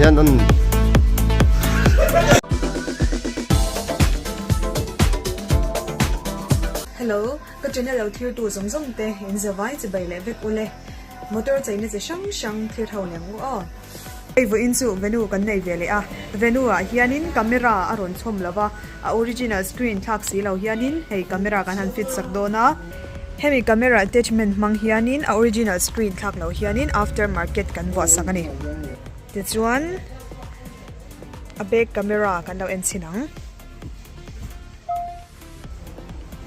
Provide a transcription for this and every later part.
Hello, ka general thil tu zawng zawng te in zavai chibai leh vek u le. Motor cheina chi hrang hrang thil tho lem u aw. Hei vawiin chu venue kan nei ve leh a, venue ah hianin camera a rawn chhawm lo va, a original screen thlak si lo hianin hei camera kan han fit sak dawn a, hemi camera attachment hmang hianin a original screen thlak lo hianin after market kan vuah sak a ni. Tichuan a back camera kan lo en chhin ang.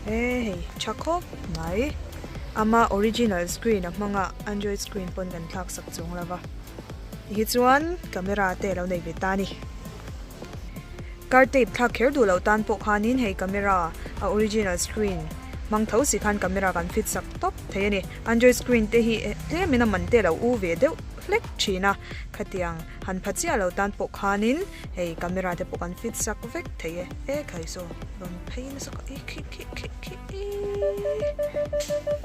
He hei tha khawp mai. Ama original screen a hmanga android screen pawn kan thlak sak chuang lo va. Hi chuan camera te lo nei ve ta a ni. Car tape thlak kher duh loh tan pawh khanin hei camera a original screen hmang tho si khan camera kan fit sak tawp thei a ni. Android screen te hi tlem in a man te lo u ve deuh hlek thin a khatiang. Han pha chiah lo tan pawh khanin hei camera te pawh kan fit sak vek thei e. E thlai saw, rawn phei nasa ka i khi khi khi khi i.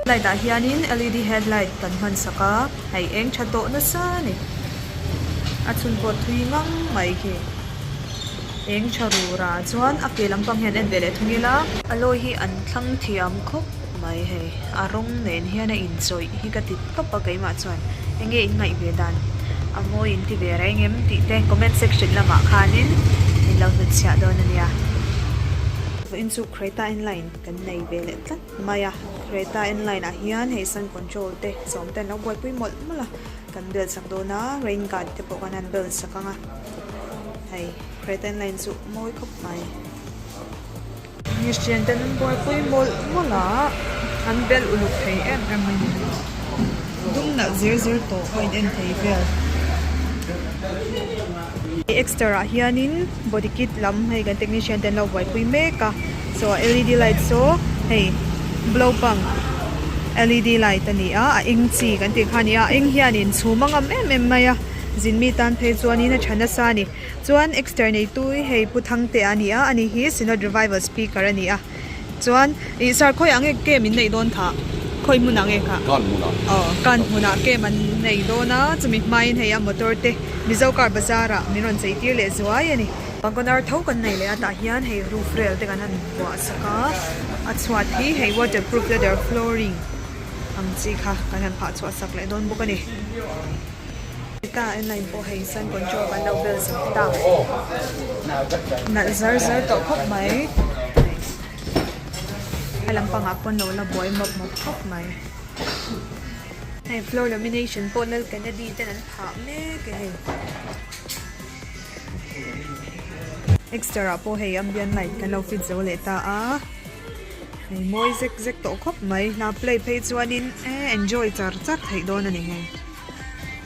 Light ah hianin LED headlight kan hman sak a, hei eng tha tawh nasa ni. A chhun pawh thui ngang mai khi. Eng tha rura chuan a ke lampang hian en ve leh thung ila. A lawi hi an thlang thiam khawp. Mai hei, a rawng nen hian a inchawih hi ka ti tawp a keimah chuan enge in ngaih ve dan a mawi in ti ve reng em tih te comment section lamah khanin min lo hnut chhiah dawn a nia. In chu Creta N-line kan nei ve leh tlat mai a, Creta N-line ah hian hei sun control te sawm te an lo buaipui mawlh mawlh a, kan bel chak dawn a, rain guard te pawh kan han bel chak ang a, hei Creta N-line chu mawi khawp mai. Christian ten an buaipui mawlh mawlh a, an bel uluk thei em em a ni. Dumna zir zir tawh a in en thei vel. Exter ah hianin body kit lam hei kan technician te an lo buaipui mek a, so a LED light saw hei blow pump LED light a ni a, a eng chi kan tih kha a ni a, a eng hianin chhum a ngam em em mai a, zin mi tan phei chuanin a tha nasa a ni. Chuan Exter neitu hei Pu Thangte a ni a, a nih hi Synod Revival Speaker a ni a. Chuan i sir khawiah nge cam in neih dawn thah? Khawi hmunah nge kha? Kan hmunah. Aw, kan hmunah cam an nei dawn a, chumi hmain hei a motor te Mizo Car Bazaar ah min rawn cheitir leh zuai a ni. Pangkawn ar tho kan nei leh a tah hian hei roof rail te kan han vuah sak a, a chhuat hi hei waterproof leather flooring ang chi kha kan han phah chhuah sak leh dawn bawk a ni. Heta en line pawh hei sun control kan lo bel sawk ta. Nalh zar zar tawh khawp mai. A lam pangah pawn lo la buai mawp mawp khawp mai. Hei floor lamination pawh nal ken a di ten an phah mek e hei. Exter ah pawh hei ambient light kan lo fit zo leh ta a. Hei mawi zek zek tawh khawp mai. Hla play phei chuan in enjoy char char theih dawn a ni hei.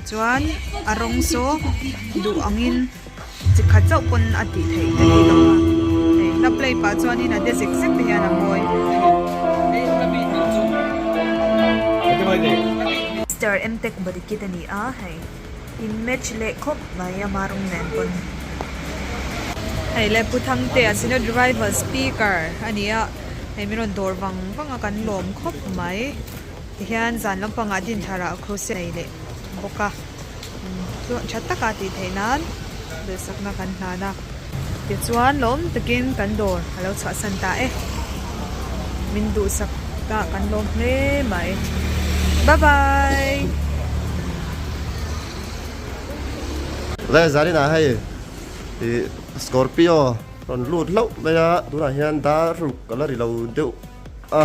Chuan a rawng chu duh angin chi khat chauh pawn a tih theih ta ni lo a. Hei hla play pah chuanin a de zek zek te hian a ngawi thei. Mister Mtek Bodikit a ni a, hei in match leh khawp mai a ma rawng nen pawn. Hei le Pu Thangtea a Synod Revival Speaker a ni a, hei min rawn dawr vang vang a kan lawm khawp mai. Tihian zan lampangah din tharah kruse nei leh bawk a, chuan tha taka tih theih nan duhsakna kan hlan a, tichuan lawm takin kan dawr a lo chhuahsan ta e, min duhsak ta kan lawm hle mai bye bye. Zai zan inah hei Scorpio rawn lut hlauh mai a, tunah hian daruk a la ri lo deuh a.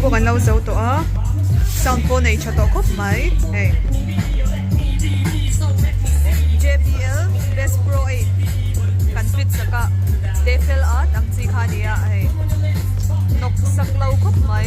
Bawk an lo zo tawh a, sound pawh nei tha tawh khawp mai hei. JBL Best Pro 8 kan fit sak a, Defel a tam chi kha a ni a hei, nawk sak lo khawp mai.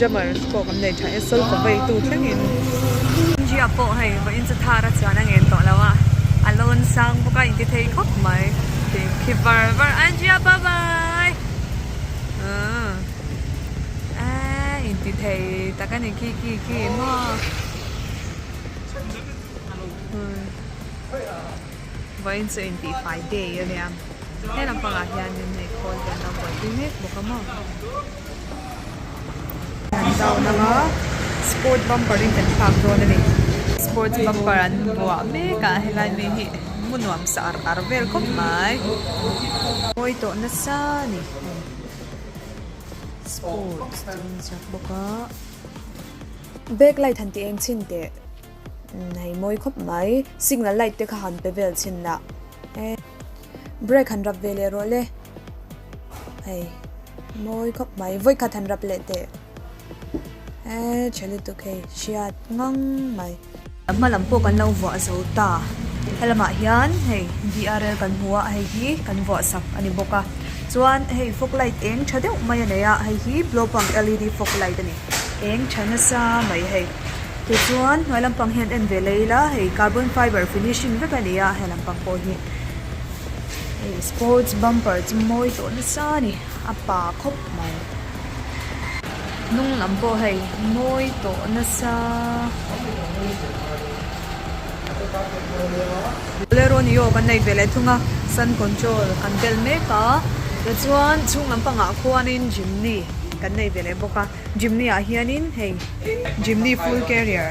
Jammer pawh kan nei tha e, sawi ka vei tu thlengin. India pawh hei va in chhuthar a chuan a ngen tawh lo a, a lo an sang bawk a, in ti thei khawp mai, tih khi var var a, India bye bye uh eeh in ti thei tak a ni khi khi khi maw. Vawiin chu intihfai day a nia. He lampangah hianin hei khawl vel a buaipui mek bawk a maw. Kan zau nang a, sport bumper in kan phak dawn a ni. Sports bumper an buah mek a, helai mi hi mu nuam sa ar ar vel khawp mai. Mawi tawh nasa a ni hei. Sports chu a inziak bawk a. Back light han ti eng chhin teh. Hei mawi khawp mai. Signal light te kha han pe vel chhin la. E. Brake han rap ve leh rawh le. Hei. Mawi khawp mai. Void khat han rap leh teh. E. Che lutuk hei. Hriat ngang mai. A hma lam pawh kan lo vuah zo ta. Helamah hian hei BRL kan hmu a. Hei hi kan vuah sak a ni bawk a. Chuan hei fog light eng tha deuh mai a nei a. Hei hi blow pump LED fog light a ni. Eng tha nasa mai hei. Tichuan, hnuai lampang hian en ve lei ila, hei carbon fiber finishing vek a ni a, he lampang pawh hi hei sports bumper chu mawi tawh nasa a ni, a pa khawp mai. Hnung lam pawh hei mawi tawh nasa. Bolero ni aw kan nei ve leh thung a, sun control kan bel mek a, tichuan chhung lampangah khuanin Jimny kan nei ve leh bawk a. Jimny ah hianin hei Jimny full carrier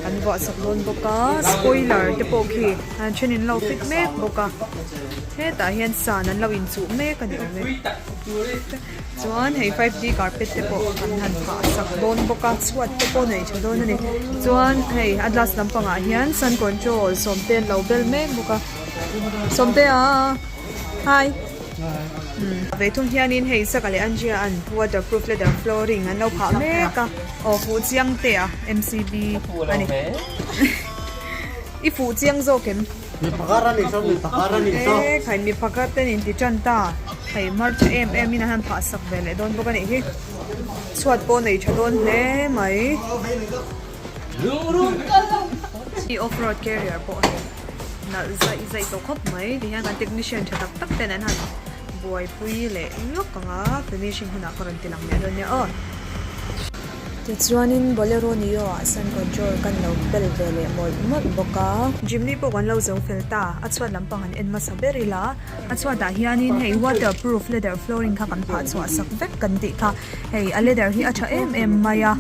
an vuahsak dawn bawk a spoiler te pawh khi a thenin lo fit mek bawk a hetah hian sun an lo inchuh mek a ni awm e chuan hei five g carpet te pawh an han phah sak dawn bawk a chhuat te pawh neih tha dawn a ni chuan hei a glass lampangah hian sun control sawmte an lo bel mek bawk a sawmtea. Hi. Umm. Vei thung hianin hei Saka leh Anjia an waterproof leather flooring an lo phah mek a. Aw fuh chiang tea MCB a ni. I fuh chiang zawk em? Mi pakhat a ni saw, mi pakhat a ni saw. Ehh khai mi pakhat ten inti tan ta. Hei hmarcha em em in a han phah sak ve leh dawn bawk a nih hi. Chhuat pawh a nei tha dawn hle mai. I off road carrier pawh a ni. nalh zaih zaih tawh khawp mai ti hian kan technician tha tak tak ten an han buaipui leh lawk ang a finishing hunah khaw rawn ti lang leh dawn nia aw tichuanin bolero nio ah sun control kan lo pel ve leh mawlh mawlh bawk a jimny pawh kan lo zo fel ta a chhuat lampang an en hmasa ber ila a chhuatah hianin hei water proof leather flooring kha kan phah chhuah sak vek kan tih kha hei a leather hi a tha em em mai a.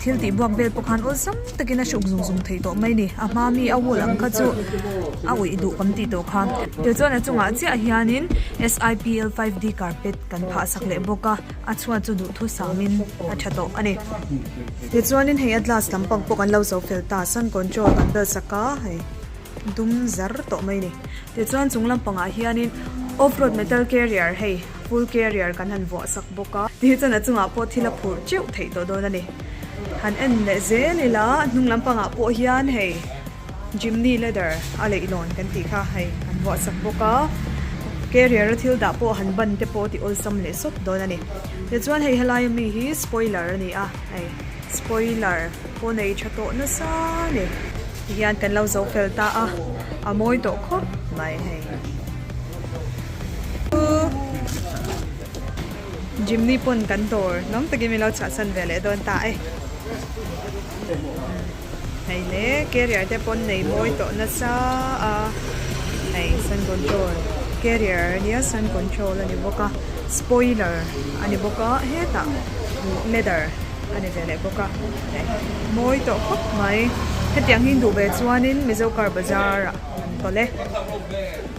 Thil tih buak vel pawh khan awlsam takin a hruk zung zung theih tawh mai ni. A hma mi a wall ang kha chu a awih duh kan tih tawh kha. Kei chuan a chungah chiah hianin SIPL five D carpet kan phah sak leh bawk a, a chhuat chu duhthur samin a tha tawh a ni. Tichuanin hei a glass lam pang pawh kan lo zo fel ta, sun control kan bel sak a, hei dum zar tawh mai ni. Tichuan chung lampangah hianin off road metal carrier hei. Full carrier kan han vuahsak bawk a. Tih hi chuan a chungah pawh thil a phurh teuh theih tawh dawn a ni. Han en leh zel ila a hnung lampangah pawh hian hei Jimny leather a leihlawn kan tih kha hei an vuahsak bawk a. Carrier a thil dah pawh han ban te pawh ti awlsam leh sawt dawn a ni. Tichuan hei helai ami hi spoiler a ni a, hei spoiler pawh nei tha tawh nasa ni. Tihian kan lo zo fel ta a, a mawi tawh khawp mai hei. Jimny pawn kan dawr nuam takin min lo chhahsan ve leh dawn ta e. Hei le, carrier te pawn nei mawi tawh nasa a. Hei sun control, carrier nia sun control a ni bawk a. Spoiler a ni bawk a, hetah leather a ni ve leh bawk a. Hei, mawi tawh khawp mai. Hetiang hi duh ve chuan in Mizo car bazar ah kan tawlh e.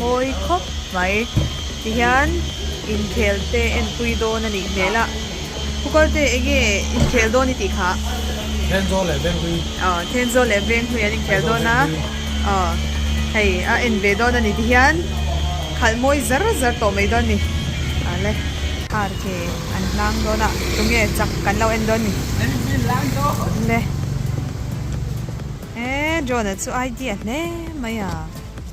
Mawi khawp mai. Tihian inkhel te enpui dawn a nih hmel a. Kukal te enge inkhel dawn i tih kha? Thenzo leh Venghui. Aw, Thenzo leh Venghui an inkhel dawn a. Aw, hei a en ve dawn a ni. Tihian khalh mawi zar zar tawh mai dawn a ni. A le. Har ke an hlang dawn a. Tunge chak kan lo en dawn a ni. A le. He John-a chu idea hle mai a.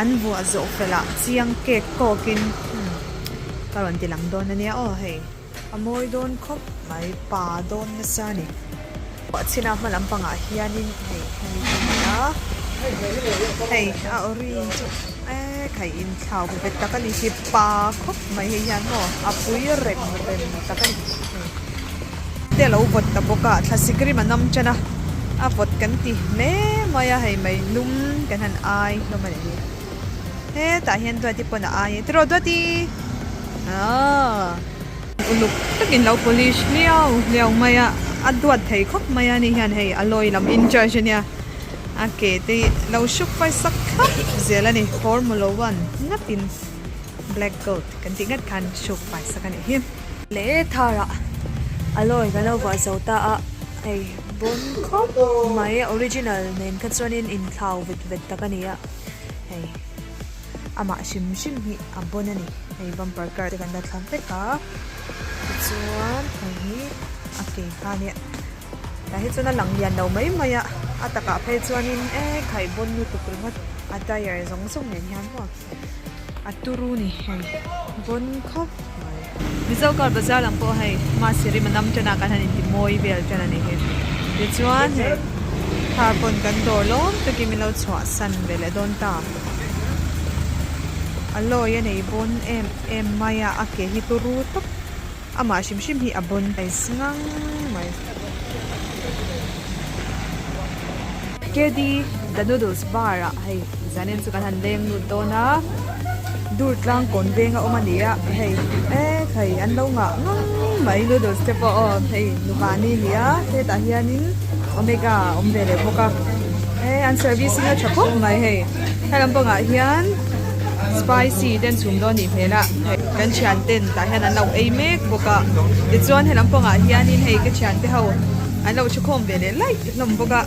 An vuah zawh felhah chiang cake kawkin umm ka rawn ti lang dawn ania aw hei. A mawi dawn khawp mai pa dawn nasa ni. Chhina hma lam pangah hianin hei hemi chu ni a, hei a orange chu ehh kai inthlau ve ve tak a ni hi pa khawp mai hei hian maw a pui rem rem tak a ni. te lo vawt ta bawk a thlasik rim a nawm tan a a vawt kan ti hle mai a hei mai hlum kan han ai hlawm a nih hi hetah hian duati pawn a ai a tiraw duati aaa uluk takin lo polish hliau hliau mai a a duat thei khawp mai a ni hian hei a lawi lam in charge ania a ke te hi lo hruk fai sak thlap zel a ni phawr maw lo a an ngap in. Black goat kan tih ngat khan Shuk Paisa ka nih hi. Le thar ah a lawi ka lo vuah zo ta a, hei bawm khawp mai a original nen kha chuan in in thlau vet vet tak a ni a, hei amah hrim hrim hi a bawn a ni, hei bumper car te kan la thlak vek a, tichuan hei hi a ke kha nia tah hi chuan a lang lian lo mai mai a, a takah phei chuan in e khai bawn lutuk ringawt a tyre zawng zawng nen hian maw. a turu ni hei vawn khawp mai. Mizo kar bazar ang pawh hei mahse rim a nam tana kan han inti mawi vel tan a ni hi. Tichuan hei thar pawn kan dawr lawm takin i lo chhuahsan ve leh dawn ta. A lawi a nei vawn em em mai a, a ke hi turu tawp. Amah hrim hrim hi a bawn mai sngang mai. Kedi The Noodles Bar ah hei Zanin chu kan han leng lut dawn a, dur tlang kawn veng a awm a ni a, hei e thei an lo ngah ngang mai noodles te pawh aw hei nuvani nia hetah hianin omega awm ve leh bawk a, e an servicing a tha khawp mai hei. He lam pangah hian spicy te an chhum dawn anih hmel a, hei kan thian ten tah hian an lo ei mek bawk a, tichuan he lam pangah hian in hei ka thian te ho an lo chhe khawm ve leh laih hlawm bawk a,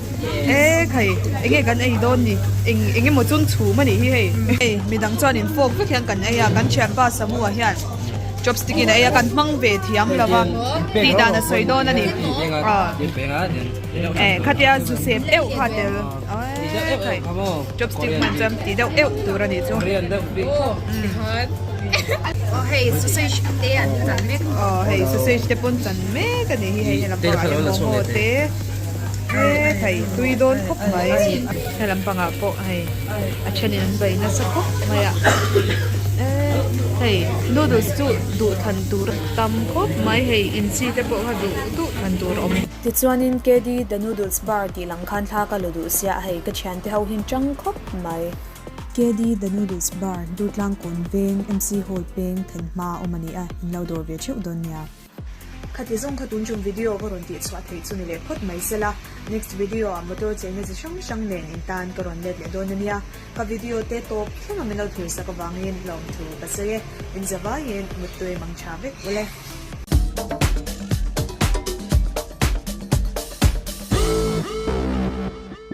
e khai eng nge kan ei dawn ni, eng eng emaw chum chhum anih hi hei, hei mi dang chuan in fawk vek hian kan ei a, kan thianpa Samu ah hian chopstick in a ei a, kan hmang ve thiam lo a, tih dan a sawi dawn ani, ah e khatia zusem euh kha tel. Chopstick hman chuan ti deuh eu tur a nih chu aw hei sausage te an chan mek a aw hei sausage te pawh an chan mek a nih hi hei helam pangah hian momo te he thei tui dawn khawp mai helam pangah pawh hei a thenin an bei nasa khawp mai a hei noodles chu duh thlan tur a tam khawp mai hei inchi te pawh kha duh duh thlan tur a awm. Tichuanin KD The Noodles Bar tih lang khan thla ka la duh sia, hei ka thiante ho hian chang khawp mai. KD The Noodles Bar, Dutlang Kawn Veng, MC Hall peng then hma a awm a ni a, in lo dawr ve theuh dawn nia. Khati zawng kha tunchung video ka rawn tihchhuah theih chu ni leh phawt mai sela, next video ah motor cheina chi hrang hrang nen in tan ka rawn let leh dawn a nia. Ka video te tawp thleng a mino thlir sak avangin hlawm thu ka sawi e, in zavaiin muttui mang tha vek ule.